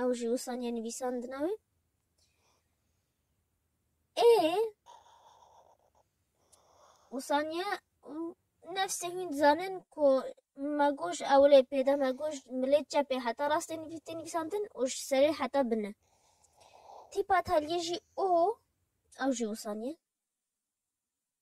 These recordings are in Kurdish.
Ew jî wîsaniya nivîsandina wê. Ê wîsaniya nefsê hûn dizanin ku me goş ewlê pêda me goş milê çepê heta rastê nivîsê nivîsandin û ji serê heta bine. Tîpa teliyê jî û ew jî wîsaniye.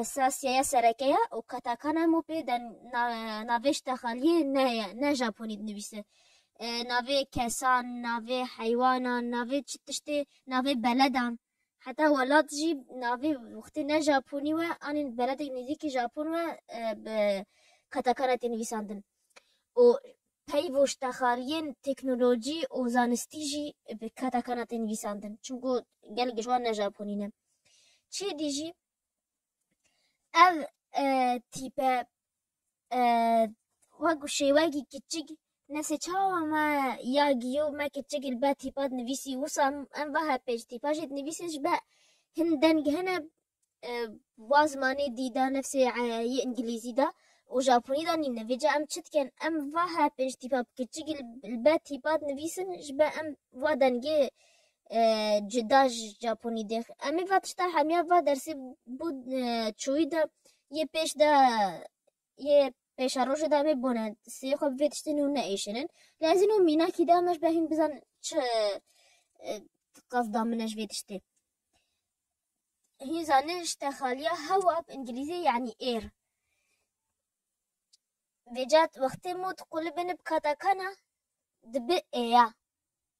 esasîyeya sereke ye û Katakan hemû pê de navê Ştexaliyê neye, ne Japonî dinivîse. Navê kesan, navê heywanan, navê çi tiştê, navê beledan. Heta welat jî navê wextê ne Japonî we anî beledek nêzîkî Japon we bi Katakana tê nivîsandin û peyvo Ştexaliyên teknolojî û zanistî jî bi Katakana tê nivîsandin. Çimku gelek ji wan ne Japonî ne. Çêdî jî ev tîpe wek şêwekî kiçik nesê çawa me ya giyo me kiçik li ber tîpa dinivîsî wisa em vaha pêç tîpa jê dinivîsê ji ber hin deng hene wa zimanê dî de nefsê yê îngilîzî de û japonî de nîne vê ca em çi dikin em vaha pêç tîpa kiçik li ber tîpa dinivîsin ji ber em wa dengê cuda ji Japonî dê. Em ê va tişta hemiya va dersê bo çoyî de yê pêş de yê pêşa rojê de em ê bone sê xwe bi vê tiştê nû neêşinin. Lê ez îno mînakî de em ji ber hîn bizanin çi qesda min e ji vê tiştê. Hîn zanin ji texaliya hewa bi îngîlîzî yanî air. Vêca wextê mot qulibin bi katakana dibe êya.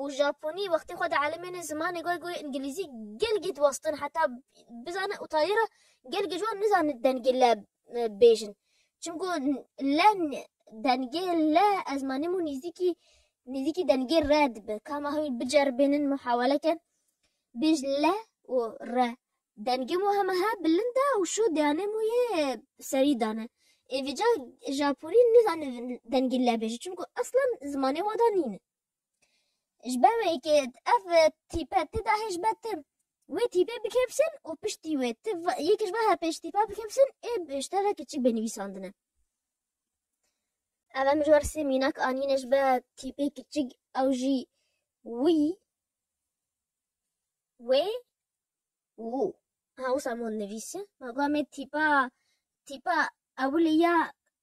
û Japonî wextê xwe dielîmêne zimanê goy goy îngilîzî gelgî diwastin heta bizanin û tayê re gelgî ji wan nizanin dengê le bêjin çimku le dengê le ez manîm û nîzîkî nîzîkî dengê re dibe ka ma hemî biceribênin muhawele kin bêj le û re dengê mo heme he bilind e û şo deyanê mo yê serî dane êvîca Japonî nizanin dengê le bêje çimku eslan zimanê we de nîne. Ji ber wê yekê ev tîpe tê de hê ji ber tu wê tîpê bikevşin û piştî wê tu yekê ji ber her pênc tîpa bikevşin ê ji te re keçik bê nivîsandine. Ev em ji ber sê mînak anîne ji ber tîpê keçik ew jî wî, wê û û. Ha wisa min nivîsî ma got me tîpa tîpa ewilê ya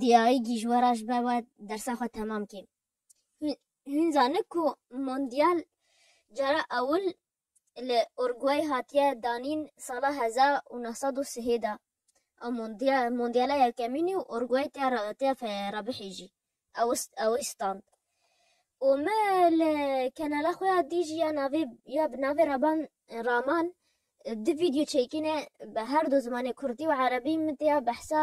diyayî gîjwera ji ber we dersa xwe temam kê. Hûn zanin ku Mondyal cara ewil li Urguay hatiye danîn sala hezar û neh sed û sihê de. Ew Mondyala yekemînî û Urguay tê re bihêjî ew ê stand. Û me li kanala xwe ya Dij ya navê ya bi navê Raban Raman du vîdyo çêkîne bi her du zimanê kurdî û erebî min tê ya behsa